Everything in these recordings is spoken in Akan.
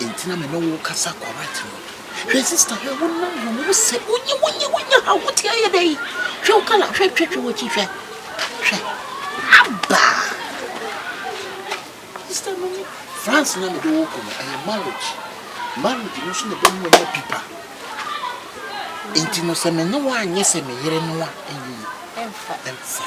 Enti na me ne wo kasa correct no. Hwɛ sister hwɛ wo nam hwɛ wo sɛ wonyi wonyi wonya ha wo te ayɛ dɛ yi. Hwɛ wo kala hwɛ hwɛ hwɛ w'akyi hwɛ. Hwɛ. Aba. Sister no ni France na me de wo kɔ no ɛyɛ marriage. Marriage no so na ɛbɛmu anya pipa. Enti no sɛ me ne wo anyɛ sɛ me yere no a ɛnyɛ yi. Ɛmfa ɛmfa.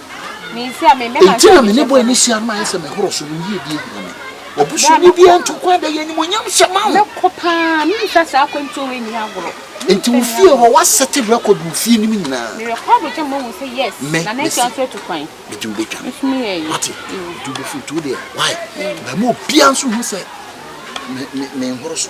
Enti na me ne bɔe ne si ano ayɛ sɛ mehoro so, me yiedie hunu me. Wɔboso ne biara nto kwan da yɛ animonyam hyɛ ma wo. Enti wo fie hɔ woasɛte record wo fie nim nyinaa. Me mesi mede wo bɛtwa me. Wate, mede wo bɛfiri nti wo deɛ why? Mɛma obiara nso hu sɛ menhoro so.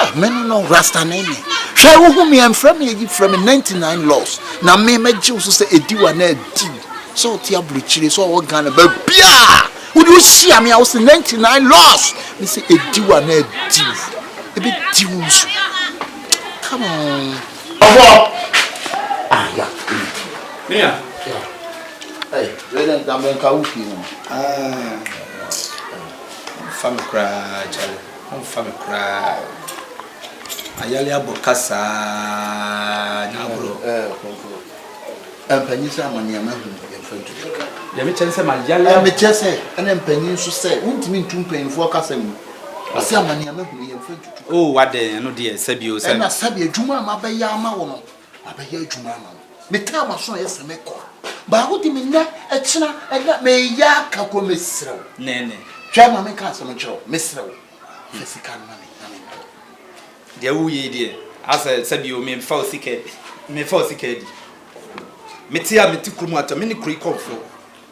ah me no no rasta ne ne hwɛ wohu me ɛmfrɛ me ayi frɛ me 99 loss na me mɛgye wo so sɛ ɛdi wa na ɛdi wo sɛ wote aburokyire sɛ ɔwɔ ghana baabiaa wode wohyia me a wo se 99 loss me sɛ ɛdi wa na ɛdi wo ɛbɛdi wo nso come on ɔbɔ ah yeah yeah Ei wei na nka menka wo fie no. Ɔmfa me koraa kyale, ɔmfa me koraa. Ayale abɔ ka saa na agorɔ. Mpanyin sɛ ama nea mahu yɛmfa ntu sika. Deɛ mekyɛ ne sɛ mayale abɔ. Mekyɛ sɛ ɛna mpanyin nso sɛ wontumi ntu mpanyinfoɔ kasɛm mu. Ɔsɛ ama nea mahu yɛmfa ntutu. Oh wadɛn ɛno deɛ sɛbi o sɛbi. Ɛna sɛbi adwuma a mabɛyɛ ama wo no Mabɛyɛ adwuma ama wo. Metaa m'aso a ɛyɛ sɛ mɛkɔ a, baako de me nnɛ, ɛkyena, ɛna meyɛ aka kɔ. Mesrɛ wo. Nɛɛnɛ. Hwɛ ma menka asɛm nkyerɛ wo. Mesrɛ wo, fa sika no ma me na menkɔ. Deɛ woreyɛ yi deɛ, asɛ sɛ bio mefa wo sika, mefa wo sika adi. Mete a mete kurom atɔ, me ne kuro yi kɔmfoɔ.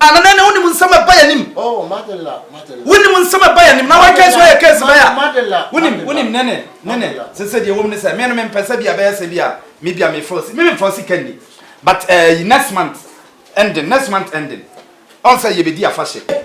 Anana na wonim nsɛm a ɛba yɛn anim. Oh, Madela, Madela. Wonim nsɛm a ɛba yɛn anim. Na wɔn kɛse wɔyɛ kɛse bɛyɛ a. Madela, Wonim, wonim ne ne, ne ne. Sese deɛ wɔm ne sɛ, me no mempɛ sɛ bi a bɛyɛ sɛ bi a, me bi a me fɔsi, me me fɔsi ka ni. But ɛɛ, next month ending, next month ending, ɔn sɛ yɛbɛdi afahyɛ.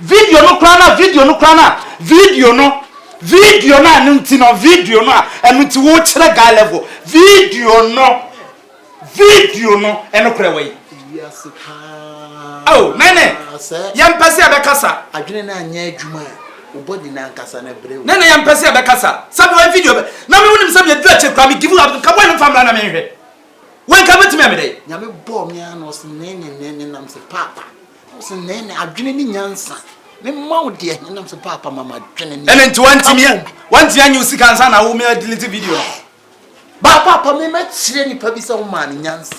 Video no koraa no a, video no koraa no a, video no, video no a ɛno nti no, video no a ɛno nti wokyerɛ guy level, video no, video no, ɛno korɛ wɔ yi. Wiase paa. Oh, nene, yɛn pɛ sɛ yɛbɛkasa. Adwene no anyɛ adwuma a, wobɔ di n'ankasa no brɛ wo. Nene, yɛn pɛ sɛ yɛbɛkasa. Sɛbi wɔ video bɛ, na mi wunim sɛbi edu akyire koraa mi give up, nka wɔn nfa mura na mi nhwɛ. Wɔn nka bɛtumi ɛmi dɛ. Nyame bɔɔ mi ano ɔsi nene nene nam sɛ paapa. Ɔse nɛɛ ne adwene ne nyansa. Mema wo deɛ hene nam so paapa ma m'adwene ne. Ɛne nti wantumi wantumi anyi wo sika ansa na wo mea delete video no. Ba paapa me mɛkyerɛ nipa bi sɛ wo maa ne nyansa.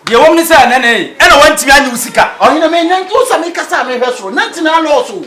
Deɛ wɔm ne sɛ nɛne ɛna wantumi anyi wo sika. Ɔhene me nante wo sɛ me kasa a mehwɛ soro nante na alɔɔso.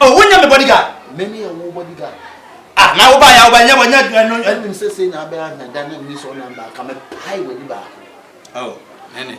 Oh, wo nyɛ me bodyguard. Me ne yɛ wo bodyguard. Ah, na wo ba ya wo ba nyɛ wɔ nyɛ dua no. Ɛnim sɛ sɛ na abɛn ahwɛ da na nni sɛ ɔnam ba ka me pae wɔ ni baako. Oh, nene.